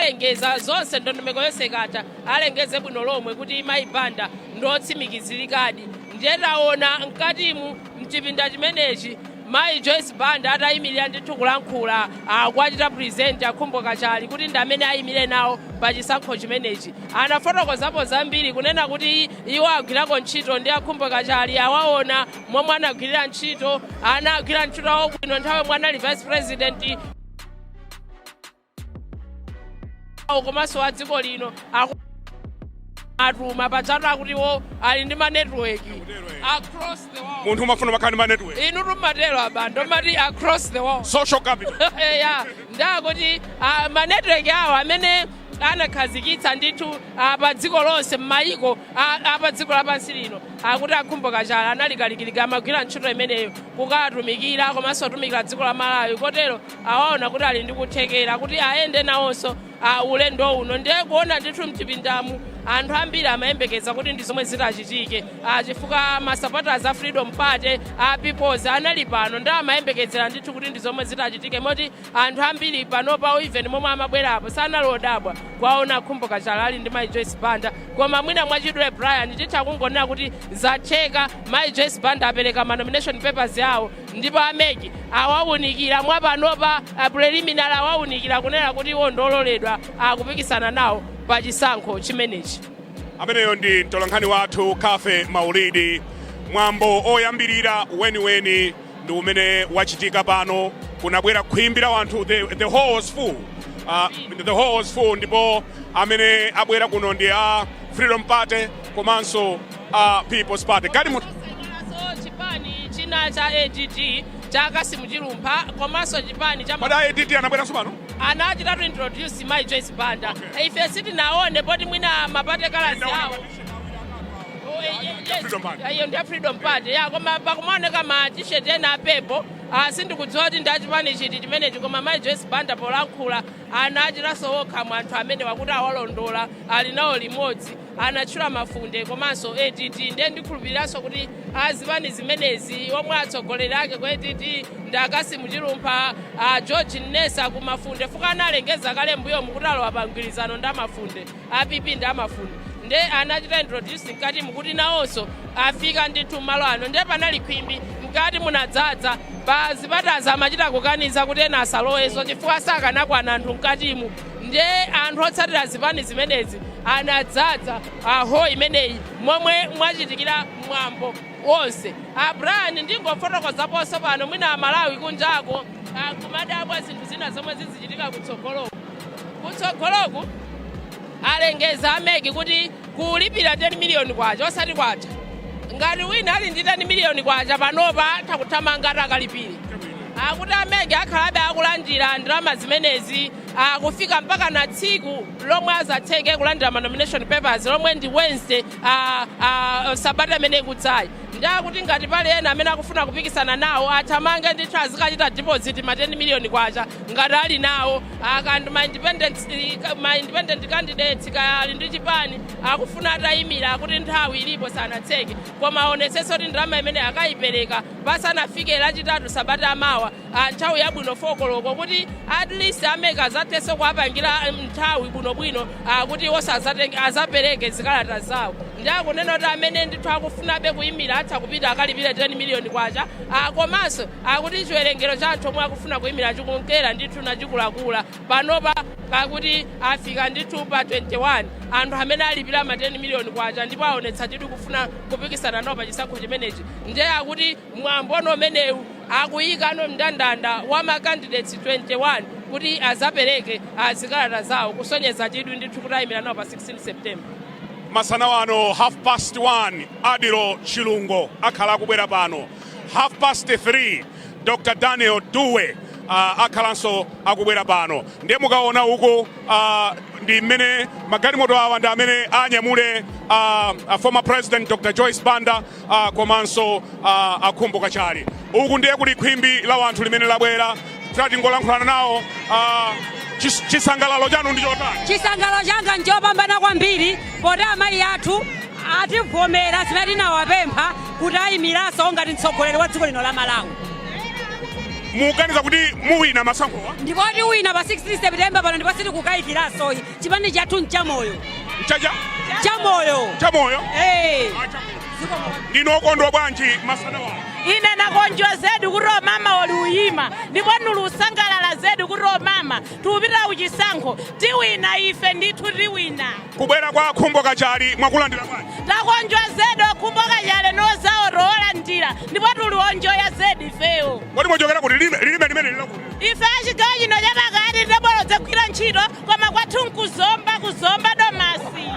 Alengeze zonse ndondomeko yonse ikatha alengeze bwino lomwe kuti mayi Banda ndi otsimikizilikadi ndiye taona mkatimu mchipinda chimenechi mayi Joyce Banda atayimilira ndithu kulankhula akuwachita present a Khumbo Kachali kuti ndi amene ayimile nawo pa chisankho chimenechi. Anafotokozapo zambiri kunena kuti iwo agwirako ntchito ndi a Khumbo Kachali awaona momwe anagwirira ntchito, anagwira ntchito awo bwino nthawi yomwe anali vice president. awo komanso a dziko lino aku- atuma pajatu akuti iwo ali ndi manetiweki across the world munthu umafuna umakhala ndi manetiweki inutu mumatero a Banda mumati across the world social capital ya nde akuti ah, manetiweki awo amene anakhazikitsa ndithu ah, pa dziko lonse m'mayiko ah, ah, pa dziko lapansi lino akuti a Khumbo Kachali anali kalikiliki amagwira ntchito imeneyo kukawatumikira komanso kutumikira dziko la Malawi kotero awaona kuti ali ndi kuthekera kuti ayende nawonso ah, ulendo uno ndiye kuona ndithu mchipindamu anthu ambiri amayembekeza kuti ndi zomwe zitachitike ah, chifukwa masapotazi a Freedom Party a People's anali pano ndi amayembekezera ndithu kuti ndi zomwe zitachitike moti anthu ambiri panopa even momwe amabwerapo sanali odabwa kuwaona a Khumbo Kachali ali ndi mai Joyce Banda koma mwina mwachidule Brian titha kungonena kuti zatheka mai Joyce Banda apereka ma nomination papers awo Ndipo a MEC awaunikira mwa panopa preliminary awaunikira kunena kuti iwo ndi ololedwa kupikisana nawo pa chisankho chimenechi. Ameneyo ndi mtolankhani wathu Cathy Maulidi. Mwambo oyambirira weniweni ndi umene wachitika pano, kunabwera khwimbi la anthu, the, the hall was full. Uh, the hall was full ndipo amene abwera kuno ndi a Freedom Party komanso a People's Party galimoto Nazo chipani china cha ADD cha Cassim Chilumpha komanso chipani cha kodi a ADD anabweranso pano anachita introduce Mai Joyce Banda Okay. ife sitinaone poti mwina ma party colours Ndaona awo kuti- Oh, eh, eh, yes. Freedom Party. Eh, iyo ndi ya Freedom Party ya koma pakuonekanso ma t-shirt ena apepo ah, sindikudziwa kuti ndi achipani chiti chimenechi koma Mai Joyce Banda polankhula anati ena mwa anthu amene akuti awalondola ali nawo limodzi anatchula Mafunde komanso ADD ndiye ndikhulupiriranso kuti azipani zimenezi omwe atsogoleri ake ku ADD ndi a Cassim Chilumpha a George Nnesa ku Mafunde fukwa analengeza kale mbuyomu kuti alowa pa mgwirizano ndi a Mafunde a PP ndi a Mafunde nde anachita introduce mkatimu kuti nawonso afika ndithu m'malo ano nde panali khwimbi mkati munadzadza pa zipatazi amachita kukaniza kuti ena asalowenso chifukwa sakanakwana anthu mkatimu nde anthu otsatira zipani zimenezi anadzadza hall imeneyi momwe mwachitikira mwambo wonse a brian ndingofotokozaponso pano mwina amalawi kunjako akumadabwa zinthu zina zomwe zizichitika kutsogoloku kutsogoloku alengeza a mec kuti kulipira K10 miliyoni osati kwatha. Ngati wina ali ndi K10 miliyoni panopa atha kuthamanga ati akalipire. Akuti a mec akhalabe akulandira ndalama zimenezi kufika mpakana tsiku lomwe azatseke kulandira ma nomination papers lomwe ndi Wednesday sabata imene ikudzayi. Ndiye akuti ngati pali ena amene akufuna kupikisana nawo athamange ndithu azikachita deposit ma K10 miliyoni ngati ali nawo. Kaya ndi ma independent candidates kaya ali ndi chipani akufuna atayimira akuti nthawi ilipo sanatseke koma aonetsetse kuti ndalama imeneyi akayipereka pasanafike lachitatu sabata yamawa a nthawi yabwino 4 koloko kuti at least a mec azathenso kuwapangira nthawi bwinobwino akuti iwonso azatenge azapereke zikalata zawo nde akunena kuti amene ndithu akufunabe kuyimira atha kupita akalipire 10 million kwacha a komanso Akuti chiwerengero cha anthu omwe akufuna kuimira chikunkera ndithu nachikulakula. Panopa akuti afika ndithu pa 21 anthu amene alipira ma K10 million ndipo aonetsa chidwi kufuna kupikisana nawo pa chisankho chimenechi ndiye akuti mwambono umenewu akuyikano mndandanda wa ma candidates 21 kuti azapereke zikalata zawo kusonyeza chidwi ndithu kuti ayimira nawo pa 16 September. Masana wano half past 1 Adil Chilungo akhala akubwera pano half past 3 dr daniel dube uh, akhalanso akubwera pano ndiye mukaona uko uh, ndi mmene magalimoto awa ndi amene anyamule uh, uh, former president dr joyce banda uh, komanso uh, a khumbo kachali uku ndiye kuli khwimbi la wanthu limene labwera tatingolankhulana nawo uh, chis- chisangalalo chanu ndi chotani chisangalalo changa nchopambana kwambiri poti amayi athu ativomera zimene tinawapempha kuti ayimiranso ngati mtsogoleri wa dziko lino la malawi muganiza kuti muwina masankhowa ndipo tiwina pa 16 september pano ndipo sitikukayikiranso ayi chipani chathu nchamoyo Nchaja? chamoyo Chamoyo. hey. Ndinu okondwa bwanji masana wano. ine nakonjwa zedi kuti omama oli uyima ndipo nili usangalala zedi kuti omama tiupitira uchisankho tiwina ife ndithu tiwina Kubwera kwa khumbo kachali mwakulandira bwanji. takonjwa zedi okhumbo kachale nozawo towolandira ndipo tili wonjoya zedi ifeyo Kodi mwachokera kuti lilime lilime limene lilakuti. ife achigawo chino chapakati tabwera udzagwira ntchito koma kwathu nkuzomba kuzomba domasi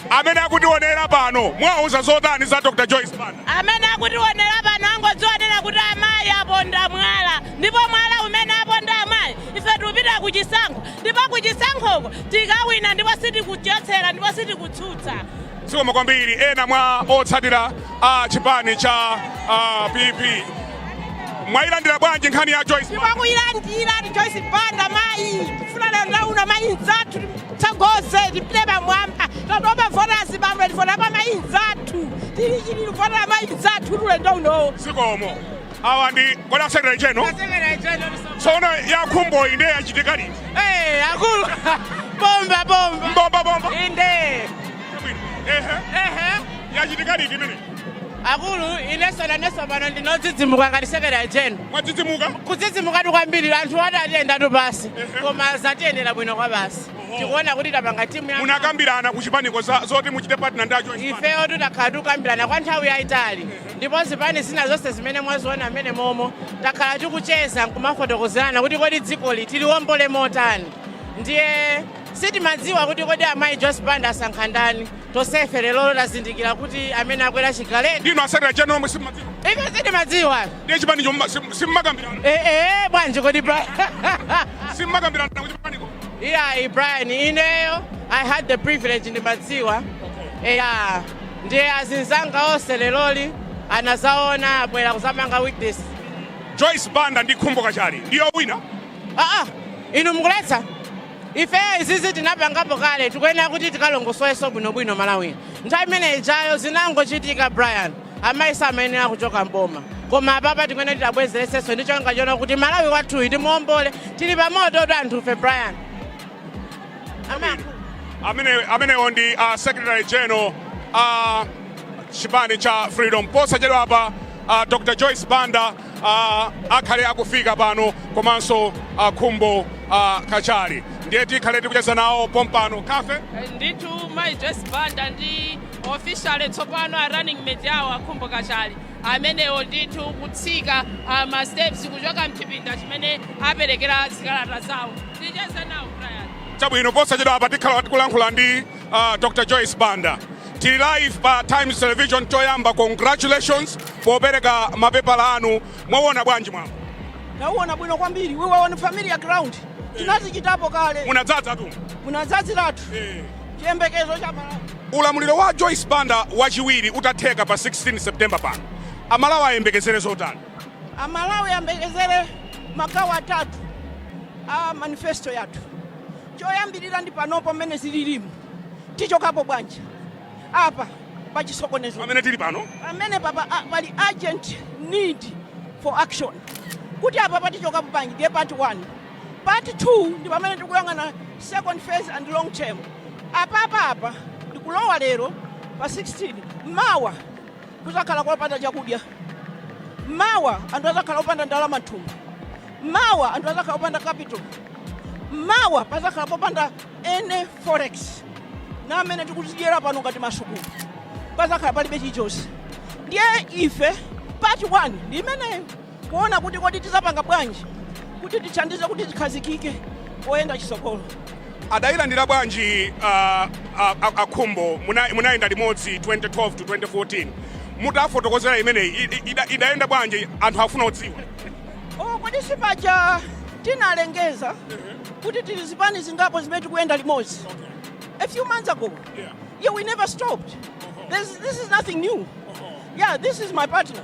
amene akutiwonera pano muwauza zotani za dr joyce banda amene akutiwonera pano angodziwonera kuti amayi aponda mwala ndipo mwala umene aponda amayi ife tikupita ku chisankho ndipo ku chisankhoko tikawina ndipo sitikuchotsera ndipo sitikutsutsa Zikomo kwambiri. Ena mwa otsatira a chipani cha ah, PP mwayilandira bwanji nkhani ya Joyce? Banda? Tikuyilandira ndi Joyce Banda mayi. Tikufuna lero tauna mayi nzathu atitsogoze tipite pamwamba. Tatopa kuvotera azibambo tifuna amayi nzathu. Tili chili votera mayi nzathu ulendo uno. Zikomo. awa ndi kodi a secretary general A secretary general msonda. tsono yakhumbo inde yachitika liti Eh, akulu. Bomba bomba. mbomba bomba Inde. Bwino. ehe Ehe. yachitika liti imene Akulu ineso naneso pano ndinodzidzimuka ngati secretary general. mwadzidzimuka kudzidzimukatu kwambiri anthu ati atiyendatu pansi Ehe. koma zatiyendera bwino kwabasi Oho. tikuona kuti tapanga timu ya munakambirana ku chipaniko za- zoti muchite partner ndi a joyce ifeyo tutakhala tikukambirana kwa nthawi yayitali ndipo zipani zina zonse zimene mwaziona mmene momo takhala tikucheza nkumafotokozerana kuti kodi dzikoli tiliwombole motani ndiye sitimadziwa kuti kodi amayi joyce banda asankha ndani tonsefe lero tazindikira kuti amene akwera chigaleti ndi uno a secretary general omwe simumadziwa ife sitimadziwa ndiye chipani chomwe sim- simmakambirana Eh, eh, bwanji kodi bra simmakambirana ku chipaniko iyayi brian ineyo i had the privilege ndimadziwa eya Ndiye azinzanga onse leroli angozaona abwera kuzapanga witness. Joyce Banda ndi Khumbo Kachali ndiyo wina. Ah ah, inu mukuletsa? Ife izizi tinapangapo kale tikuyenera kuti tikalongosoleso bwinobwino Malawi. Nthawi imene ijayo zinangochitika Brian amayi samayenera kuchoka mboma. Koma apapa tikuyenera tiwabwezereseso ndi cholinga chonena kuti Malawi wathuyi timuombole tili pa mototu anthufe Brian. amenewo ndi uh, secretary general a chipani cha freedom posachedwa apa uh, dr joyce banda uh, akhale akufika pano komanso uh, khumbo uh, kachali ndiye tikhale tikucheza nawo pompano ka ife ndithu mayi joyce banda ndi officially tsopano a running mate awo akhumbo kachali amenewo ndithu kutsika uh, ma steps kuchoka mchipinda chimene aperekera zikalata zawo Ticheze nawo Brian. Chabwino posachedwa apa tikhala tikulankhula ndi uh, Dr. Joyce Banda. Tili live pa Times Television choyamba congratulations popereka mapepala anu. Mwauwona bwanji mwambo? Ndauwona bwino kwambiri. We were on familiar ground. Tinazichitapo kale. Munadzadzatu. Munadzadziratu. Eh. Chiyembekezo cha aMalawi. Ulamuliro wa Joyce Banda wachiwiri utatheka pa 16 September pano. Amalawi ayembekezere zotani? Amalawi ayembekezere magawo atatu a manifesto yathu. Choyambirira ndi panopo mmene zililimu, tichokapo bwanji apa pa chisokonezo pamene tili pano? Pamenepa pa, a, pali urgent need for action kuti apa patichokapo bwanji ndiye part 1 part 2 ndi pamene tikuyang'ana second phase and long term apapa apa ndikulowa lero pa 16 mawa Kuzakhala kopanda chakudya. Mawa anthu azakhala opanda ndalama mthumba. Mawa anthu azakhala opanda capital. Mawa pazakhala popanda any forex. Ana amene tikuwadyetsera pano ngati m'masukulu. Pazakhala palibe chilichonse. Ndiye ife part 1 ndi imeneyo. kuona kuti kodi tizapanga bwanji kuti tithandize kuti tikhazikike poyenda chisogolo. Adailandira bwanji a a a a Khumbo muna munayenda limodzi 2012 to 2014 mutawafotokozera imeneyi i- i- ida- idayenda bwanji anthu afuna kudziwa. Oh, kodi si paja tinalengeza kuti tili zipani zingapo zimene tikuyenda limodzi a few months ago Yeah. yeah we never stopped this, this is nothing new yeah this is my partner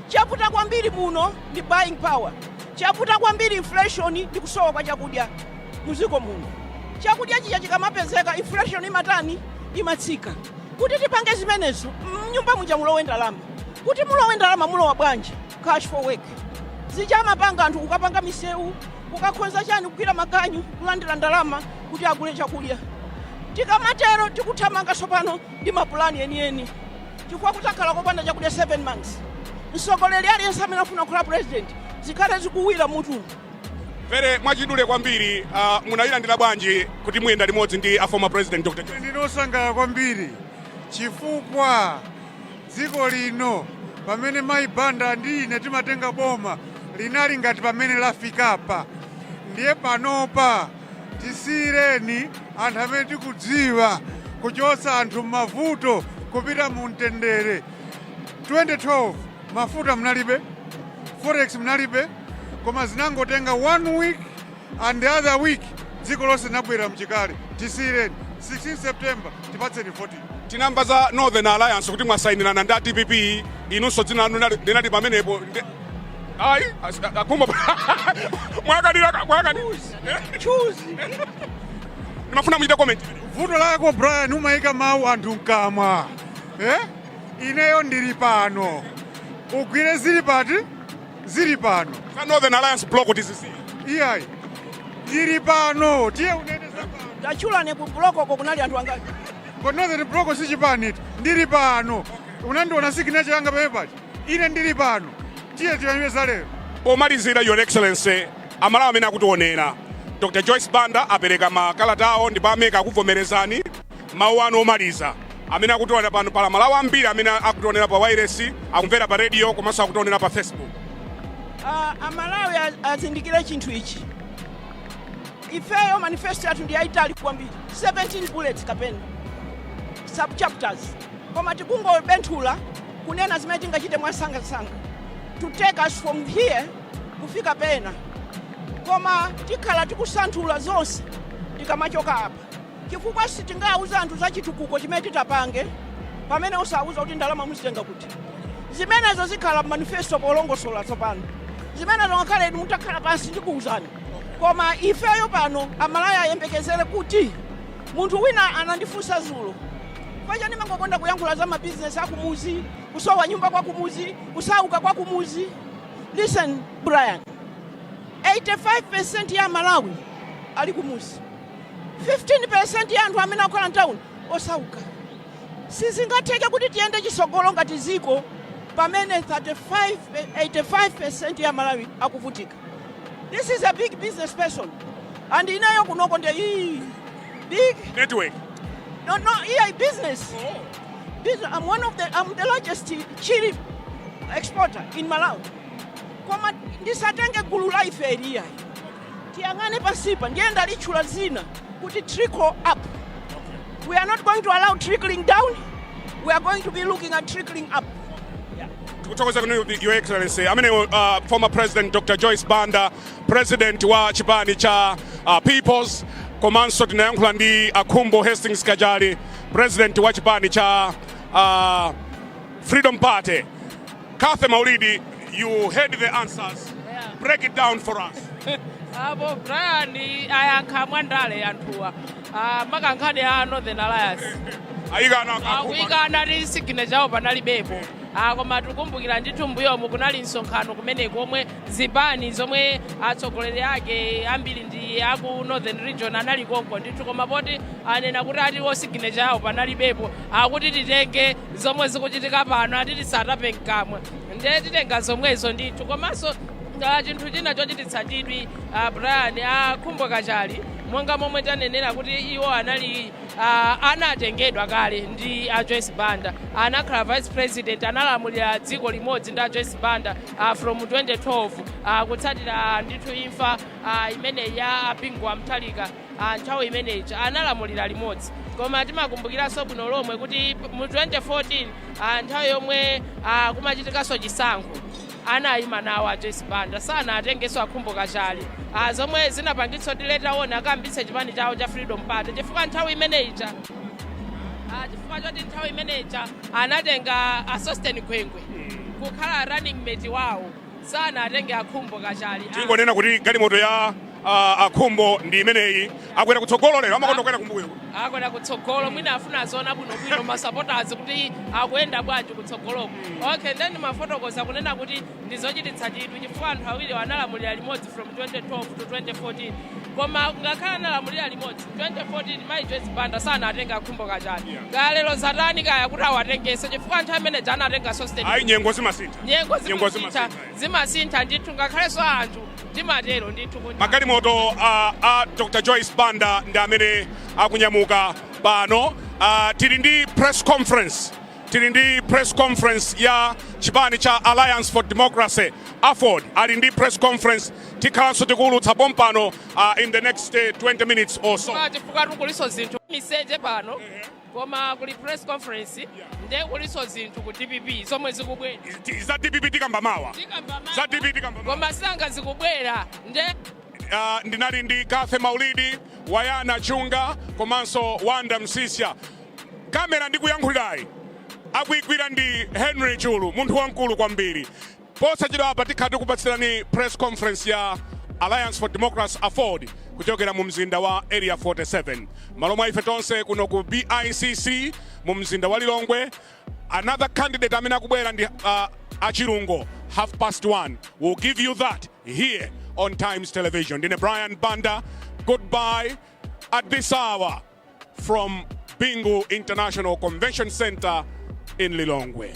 Chavuta kwambiri muno ndi buying power, chavuta kwambiri inflation ndi kusowa kwa chakudya muziko muno. Chakudya chija chikamapezeka inflation imatani? Imatsika. Kuti tipange zimenezo mnyumba muja mulowe ndalama. Kuti mulowe ndalama mulowa bwanji? Cash for work. Zija amapanga anthu kukapanga misewu, kukakhonza chani kugwira maganyu kulandira ndalama kuti agule chakudya. Tikamatero tikuthamanga tsopano ndi mapulani enieni. Chifukwa kudzakhala kopanda chakudya 7 months. Mtsogoleri aliyense amene akufuna kukhala president zikhale zikumuwira mutu. Very mwachidule kwambiri uh, munayilandira bwanji kuti muyenda limodzi ndi a former president Dr. Joyce? ndinosangalala kwambiri chifukwa dziko lino pamene mayi banda ndi ine timatenga boma linali ngati pamene lafikapa ndiye panopa Tisiyireni anthu amene tikudziwa kuchotsa anthu mmavuto kupita mu mtendere. 2012 mafuta munalibe, forex munalibe, koma zinangotenga one week and the other week dziko lonse linabwerera mchikale. Tisiyireni 16 September tipatseni votiyo. Tinamva za Northern Alliance kuti mwasayinirana ndi a dpp, inunso dzina lanu linali- linali pamenepo. Nde- Ayi, as- a- a Khumbo- mwakanira mwakanira. choose ndimafuna muchite comment vuto lako brian umayika mawu anthu mkamwa eh? ineyo ndili pano ugwire zili pati zili pano za northern alliance block tizisi iyayi ndili pano tiye unene za pano tatchulani ku block ko kunali anthu angati koma northern block si chipani iti ndili pano unandiona signature yanga pamene paja ine ndili pano tiye tiyang'ane za lero pomalizira your excellency Amalawi amene akutionera. Dr Joyce Banda apereka ma kalata awo ndipo a mec akuvomerezani. Mawu anu omaliza, amene akutionera pano, pali amalawi ambiri amene akutionera pa wailesi, akumvera pa radio komanso akutionera pa Facebook. Amalawi azindikire chinthu ichi, ifeyo manifesto yathu ndi yaitali kwambiri, 17 bullets kapena sub chapters, koma tikungobenthula kunena zimene tingachite mwansanga nsanga to take us from here. kufika pena koma tikhala tikusanthula zonse tikamachoka apa chifukwa sitingauze anthu za chitukuko chimene titapange pamene osauza kuti ndalama muzitenga kuti zimenezo zikhala manifesto polongosola tsopano zimenezo ngakhale inu mutakhala pansi ndikuuzani koma ifeyo pano amalawi ayembekezere kuti munthu wina anandifunsa zulo paja ndimangokonda kuyankhula za mabizinesi akumuzi kusowa nyumba kwakumuzi kusauka kwakumuzi Listen Brian, 85% ya Amalawi ali kumuzi, 15% ya anthu amene akukhala mtawuni osauka. Sizingatheke kuti tiyende chisogolo ngati ziko pamene 35, 85% ya Amalawi akuvutika. This is a big business person and ineyo kunoko ndi big network no, no, here, business. Oh. These, I'm one of the, I'm the largest chili exporter in Malawi. Koma ndisatenge gulu la ife Brian. Tiyang'ane pansipa ndiye ndalitchula dzina kuti trickle up. We are not going to allow trickling down. We are going to be looking at trickling up. tikuthokoza inu your excellency amene uh, former president dr joyce banda president wa chipani cha uh, peoples komanso tinayankhula ndi a Khumbo Hastings Kachali President wa chipani cha uh, Freedom Party Cathy Maulidi, you heard the answers. Yeah. Break it down for us. Apo Brian ayankha mwandale anthuwa. Ah monga nkhani ya Northern Alliance. Ayikana akakuma. Ayikana kuti signature yawo panalibepo. Ah koma tikumbukira ndithu mbuyomu kunali msonkhano kumeneko omwe zipani zomwe atsogoleri ake ambiri ndi aku northern region anali konko ndithu koma poti anena kuti ati wo signature yawo panalibepo akuti titenge zomwe zikuchitika pano ati tisatape mkamwa ndiye titenga zomwezo ndithu komanso ah, chinthu china chochititsa chidwi ah, brian a khumbo kachali monga momwe tanenera kuti iwo anali ah, anatengedwa kale ndi a joyce banda anakhala vice president analamulira dziko limodzi ndi a joyce banda uh, from 2012 uh, kutsatira ndithu imfa uh, imene ija ya bingu wa mutharika uh, nthawi imene ija analamulira limodzi koma timakumbukiranso bwino lomwe kuti mu 2014 uh, nthawi yomwe uh, kumachitikanso chisankho anayima nawo a joyce banda sanatengenso a khumbo kachali uh, zomwe zinapangitsa kuti later on akambitse chipani chawo cha freedom party chifukwa nthawi imene ija uh, chifukwa choti nthawi imene ija anatenga a sosten gwengwe kukhala running mate wawo sanawatenge a khumbo kachali ah. tingonena kuti galimoto ya ah, a khumbo ndi imeneyi akwera kutsogolo lero amakonda kukwera kumbuyo akwera kutsogolo mwina afuna aziona bwinobwino masapotazi kuti akuyenda bwanji kutsogoloko okay nde ndimafotokoza kunena kuti ndizochititsa chidwi chifukwa anthu awiriwa analamulira limodzi from 2012 to 2014 koma ngakhale analamulira limodzi 2014 mayi joyce banda sanatenge a khumbo kachali kaya lero zatani kaya kuti awatengenso chifukwa nthawi imene ija anatenga sosten ayi nyengo zimasintha nyengo Nyengo zimasintha zimasintha, zimasintha ndithu ngakhalenso anthu timatero ndithu kuti magalimoto a, a dr joyce banda ndi amene akunyamuka pano Ah, tili ndi press conference tili ndi press conference ya chipani cha alliance for democracy aford ali ndi press conference tikhalanso tikuwulutsa pompano uh, in the next uh, 20 minutes or so. Koma chifukwa tikulinso zinthu miseche pano koma kuli press conference nde kulinso zinthu ku dpp zomwe zikubwera Za DPP tikamba mawa? Za DPP tikamba mawa. koma sanga zikubwera nde Uh, ndinali ndi Cathy Maulidi, Wayana Chunga komanso Wanda Msisya. Kamera ndikuyankhulirayi akuyigwira ndi Henry Chulu, munthu wamkulu kwambiri. Posachedwapa tikhala tikupatsirani Press Conference ya Alliance for Democracy, aford, kuchokera mu mzinda wa Area 47 m'malo mwa ife tonse kuno ku BICC mu mzinda wa Lilongwe. Another candidate amene akubwera ndi uh, a Chilungo half past one. We'll give you that here on Times Television. Ndine Brian Banda. Goodbye at this hour from Bingu International Convention Center in Lilongwe.